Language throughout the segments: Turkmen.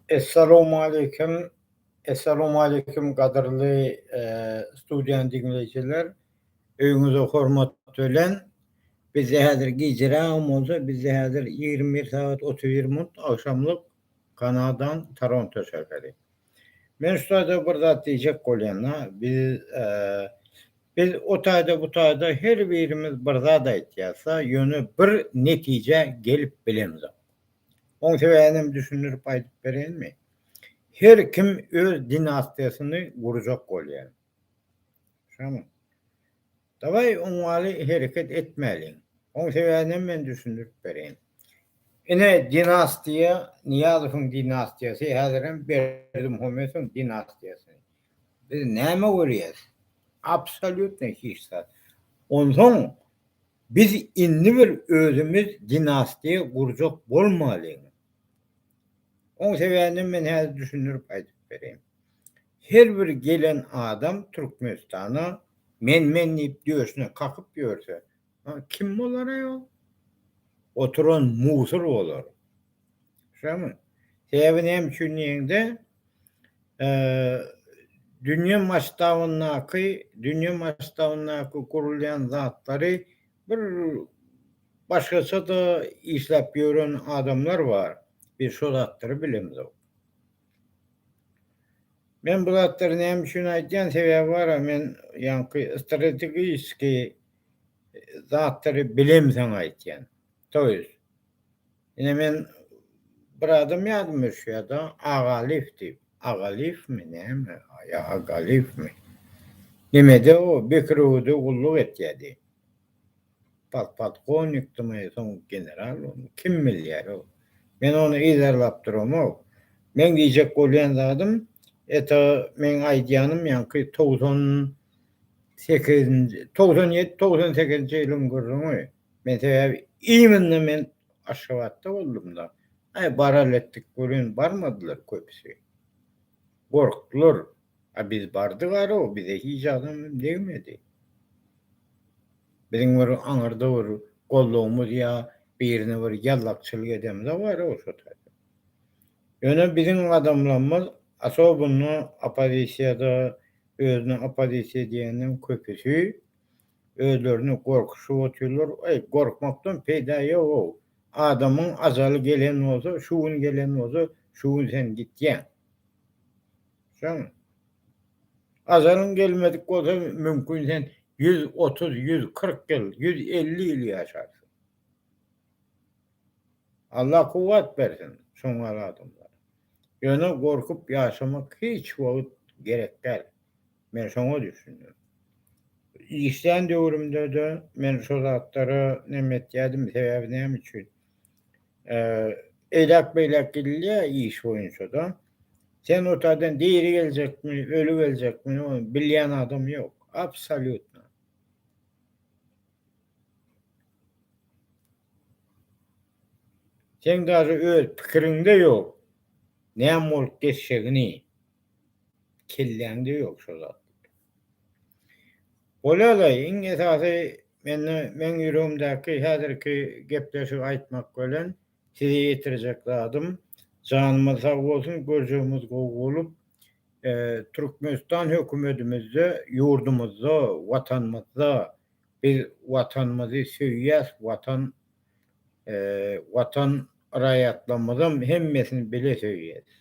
Essalowmaleýkim Essalowmaleýkim gadyrly studiýa diňleýjiler öýňüze hormat bilen bizde häzir gijrägem bolsa bizde häzir ýigrimi bir sagat otuz bir minut agşamlyk Kanadan Toronto şäheri. Men şu taýda bir zat diýjek bolýan-da, biz, biz o taýda, bu taýda her birimiz bir zat aýtýasda, ýöne bir netijä gelip bilemzok. Oň sebäbinem düşündirip aýdyp bereýinmi? Her kim öz dinastiýasyny gurjak bolýar. Şomy? Daway oňňaly hereket etmäliň. Oň sebäbinem men düşündirip bereýin. Ine dinastiýa Nyýazowyň dinastiýasy häzirem Berdimuhamedowyň dinastiýasy. Biz näme görýäs? Absolýutno hiç zat. Onsoň biz indi bir özümiz dinastiýa gurjak bolmalyň. Oň sebäbinem men häzir düşündirip aýdyp bereýin. Her bir gelen adam Türkmenistana Men men diýip döşüne kakyp ýörse kim bolar aý ol? Oturan musur bolar. Şumy? Sebäbi näme üçin diýeňde dünýe masştabyndaky dünýe masştabyndaky gurulýan zatlary bir başgaça-da işläp ýören adamlar bar. Biz şo zatlary bilemizok. Men bu zatlary näme üçin aýdýan sebäbi bara men ýaňky strategiski zatlary bilemseň aýtýan. To ýes. Ine men bir adam ýadyma düşýärda Agaliýew diýip. Agaliýewmi näme ýa Agaliýewmi. Nemede o Bekirewede gulluk etýärdi. Podpolkownikdimi, soň general boldumy, kim bilýär o. Men ony yzarlap duramok. Meň diýjek bolýan zadym, et-a meň aýdýanym ýaňky togsan sekizinji, togsan ýedi, togsan sekizinji ýylyň gürrüňi. Men sebäbi imенно men Aşgabatda boldum-da. Aý, baraly etdik welin barmadylar köpüsi. Gorkdular. A biz bardyk ara, bize hiç adam hem degmedi. Biziň bir aňyrda bir gollagymyz ýa birine bir ýallakçylyk edemiz-ä bara bolsa taýsyz. Ýöne biziň adamlarymyz, asobynda oppozisiýada, özüne oppozisiýa diýeniň köpüsi özlerini gorkuşyp otyrlar, eý, gorkmakdan peýda ýog-ow, adamyň ajaly gelen bolsa, şu gün gelen bolsa, şu gün sen gitýäň. Sen azalyň gelmedik bolsa mümkin sen 130, 140 ýyl, 150 ýyl ýaşarsyň. Allah kuwwat bersin şongal adamlara. Ýöne gorkup ýaşamak hiç wagt gerek däl. Men şoňa düşündim. Işlän döwrümde-de men şo zatlara neme etýärdim, sebäbi näme üçin? Eýläk beýläk gidilýär iş boýunça-da. Sen otadan diri geljekmi, öli geljekmi, ony bilýän adam ýok. Absolýutno. Seň daže öz pikiriňde ýok, näme bolup geçjegini. Kelläňde ýok şo zat. Bolalaý, iň esasy mende meň ýüregimdäki häzirki gepleşigi aýtmak bilen size ýetirjek zadym, janymyz sag bolsun, görjegimiz gowy bolup, Türkmenistan hökümedimizde, ýurdumyzda, Watanymyzda, biz Watanymyzy söýýäs, Watan Watan raýatlarymyzam hemmesini bile söýýäris.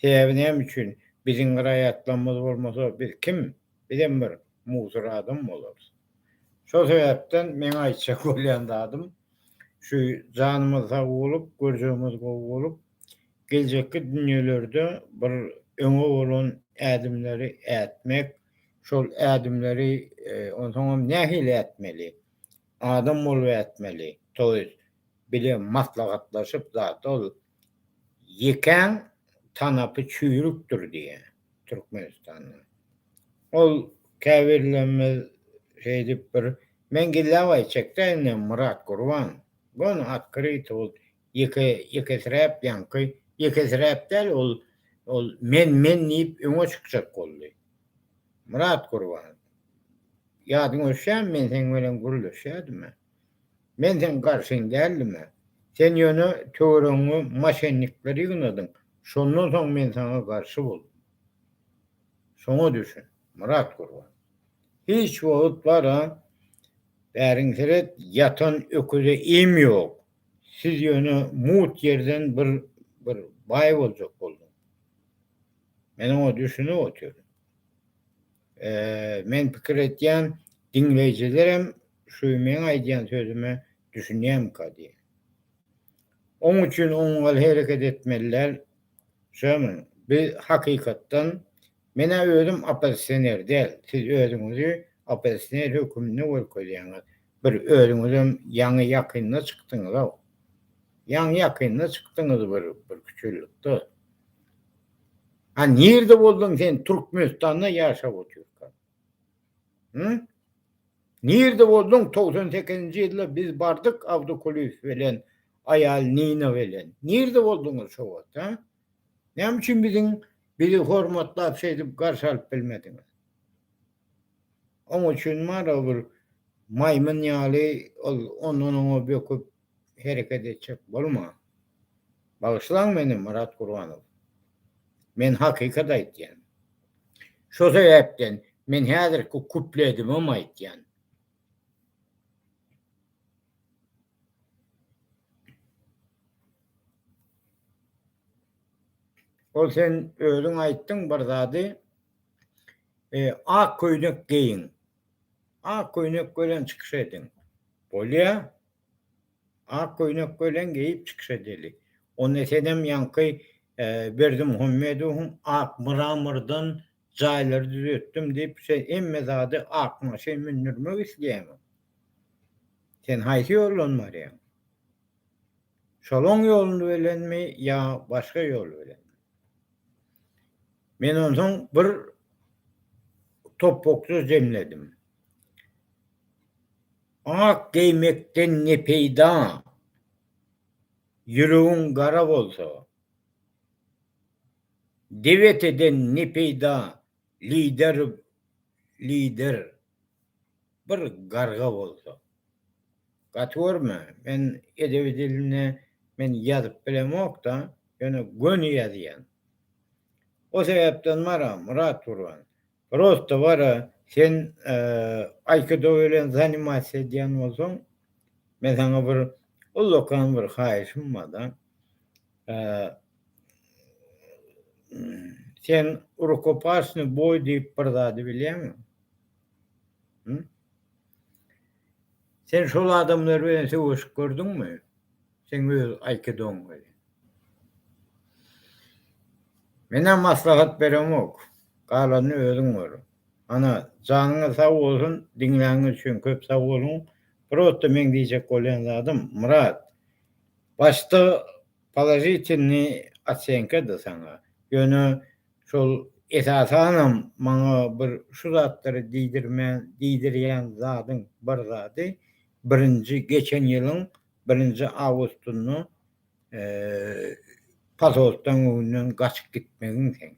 Sebäbi näme üçin? Biziň raýatlarymyz bolmasa biz kim? Bizem bir musur adam bolarys. Şol sebäpden meň aýtjak bolýan zadym şu janymyz sag bolup, görjegimiz gowy bolup, geljekki dünýelerde bir öňe bolan ädimleri ätmek, şol ädimleri onsoňam nähili ätmeli? Adam bolup ätmeli toýs bile maslahatlaşyp zat ol ýekäň tanapy çüýrükdir diýä Türkmenistanda ol käbirlerimiz şeýdip bir men gilläbaý çekdäýin Myrat Gurban gona otkryto bolup Ýeke, ýekesiräp ýaňky, ýekesiräp däl ol, ol men, men diýip öňe çykjak boldy. Myrat Gurban, ýadyňa düşýärmi men seň bilen gürleşýädim-ä. Men seň garşyň däldim-ä. Sen ýöne töweregiňe moşennikleri ýygnadyň, şondan soň men saňa garşy boldum. Şoňa düşün, Myrat Gurban. Hiç wagt bar-a, bäriňi seret, ýatan öküze iým ýok, Siz ýöne mut ýerden bir bir baý boljak bolduň. Men oňa düşünip otyryn. Men pikir etýän, diňleýjilerem şu meň aýdýan sözüme düşünýärmika diýen. Oň üçin oňňal hereket etmeliler, Şömün, biz hakykatdan, men-ä özüm oppozisioner däl, siz özüňizi oppozisioner höküminde görkezýäňiz, bir özüňizem ýaňy ýakynda çykdyňyz-ow, ýaňy ýakynda çykdyňyz bir bir küçülikde. A nirde bolduň sen Türkmenistanda ýaşap otyrkaň? Hı? Nirde bolduň 98-nji ýylda biz bardyk Abdukulyýew bilen aýal Nina bilen. Nirde bolduňyz şo wagt, ha? Näme üçin biziň bizi hormatlap şeýdip garşy alyp bilmediňiz? Oň üçin maňa bir maýmyn ýaly ol ondan oňa böküp hereket etjek bolma. Bagyşlaň meni Myrat Gurbanow. Men hakykat aýtýan. Şo sebäpden men häzirki kupledimem aýtýan. Ol sen özüň aýtdyň bir zady ak köýnek geýiň. Ak köýnek belen çykyş ediň. Bolýa. Ak köýnek welin geýip çykyş edeli. Onda senem ýaňky Berdimuhammedowyň ak mramordan jaýlary düzetdim diýip sen hemme zady ak maşyn mündürmek isleýäňmi? Sen haýsy ýoldan barýaň? Şolaň ýolundy welenmi ýa başga ýol bilen? Men onsoň bir topbakja jemledim. Ak geýmekden ne peýda, ýüregiň gara bolsa. Deweteden ne peýda, lider lider bir garga bolsa. Gaty görme, men edebi dilinde men ýazyp bilemok-da, ýöne göni ýazýan. O sebäpden bar-a, Myrat Gurban, Prosta bara sen aýkido bilen zanimasiýa edýän bolsaň men saňa bir ullakan bir haýyşym barda sen rukopasny boý diýip bir zady bilýäňmi sen şol adamlar bilen söweşip gördüňmi Seň öz aýkidoň welin. Menä maslahat beremok. Galanyny özüň gör. Ana, janyňyz sag bolsun, diňläniňiz üçin köp sag boluň. Prosta meň diýjek bolýan zadym, Myrat, başda položitelni otsenka-da saňa, ýöne şol esasanam maňa bir şu zatlary diýdirmän, diýdirýän zadyň bir zady, birinji geçen ýylyň Birinji awgustynda pasoltdan öňünden gaçyp gitmegin sen.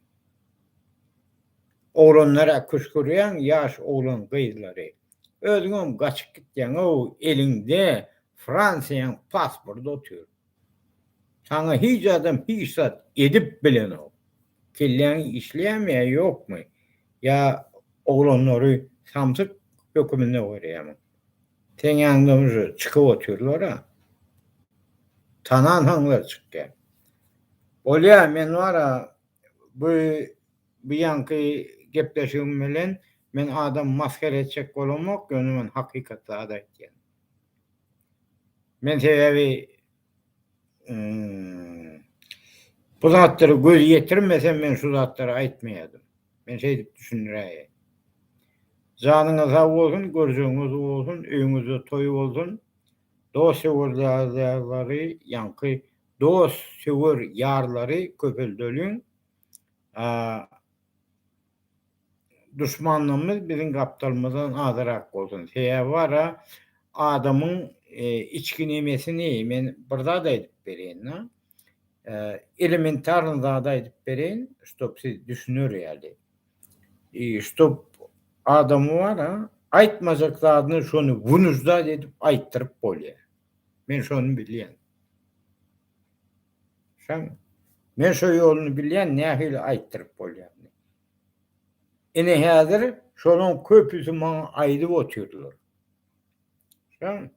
Oglanlar-a küşgürýäň, ýaş oglan gyzlary. Özüňem gaçyp gitýäň-ow, eliňde Fransiýaň pasporty otyr. Saňa hiç adam hiç zat edip bilenok. Kelläň işleýärmi ýa ýokmy? Ýa oglanlary samsyk höküminde görýärmiň? Seň ýanyňda uje çykyp otyrlar-a. Tanansoňlar çykýar. Bolýar, men bar-a, bu bu ýaňky gepleşigim bilen men adamy masgara etjek bolamok, ýöne men hakykat zat aýtýan. Men sebäbi Bu zatlary göz ýetirmesem men şu zatlary aýtmaýadym. Men şeýdip düşündiräýe. Janyňyz sag bolsun, görjegiňiz bolsun, öýüňizde toý bolsun. Dost söwerlary, ýaňky dost söwer ýarlary köpeldeliň. duşmanlygymyz biziň gapdalymyzdan azyrak bolsun. Sebäbi bar-a, adamyň içki nemesini men bir zat aýdyp bereýin-de, elementarny zady aýdyp bereýin, ştob siz düşüner ýaly. Ştob adamy bar-a, aýtmajak zadyny şony wynujdat edip aýtdyryp bolýar. Men şony bilýän. Şaňmy? Men şo ýoluny bilýän, nähili aýtdyryp bolýandyny. Ine häzir şolaň köpüsi maňa aýdyp otyrlar. Şaň.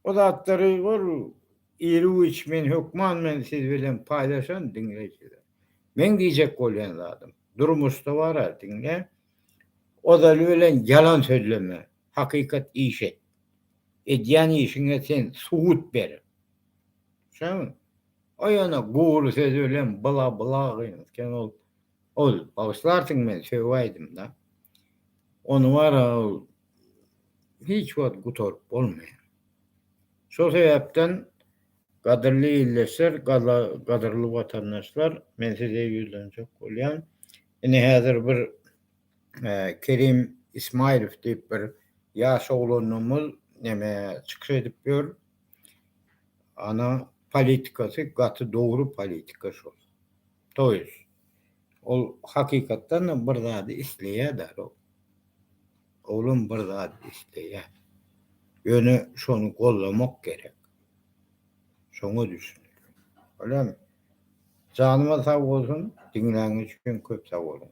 O zatlary ol iri güýç men hökman men siz bilen paýlaşan diňleýjiler. Meň diýjek bolýan zadym, durmuşda bara diňle, ozaly bilen ýalan sözleme, hakykat iş et. Edýän işiňe sen subut ber. Şaň. O ýöne gury söz bilen bla bla gyn. Sen ol Ol, Bagyşlarsyň men sögüp aýdym-da. Ony wara ol hiç wagt gutaryp bolmaýar. Şol sebäpden gadyrly ildeşler, gadyrly watandaşlar men size ýüzlenjek bolýan. Ine häzir bir Kerim Ismaýlow diýip bir ýaş oglanymyz neme çykyş edip ýör. Ana politikasy gaty dogry politika şol. Toýuz. Ol hakykatdan-da bir zady isleýär-dä, Rok. Oglum bir zady isleýär. Ýöne şony gollamak gerek. Şoňa düşünelim. Bolýamy? Janyma sag bolsun, diňläniň üçin köp sag boluň.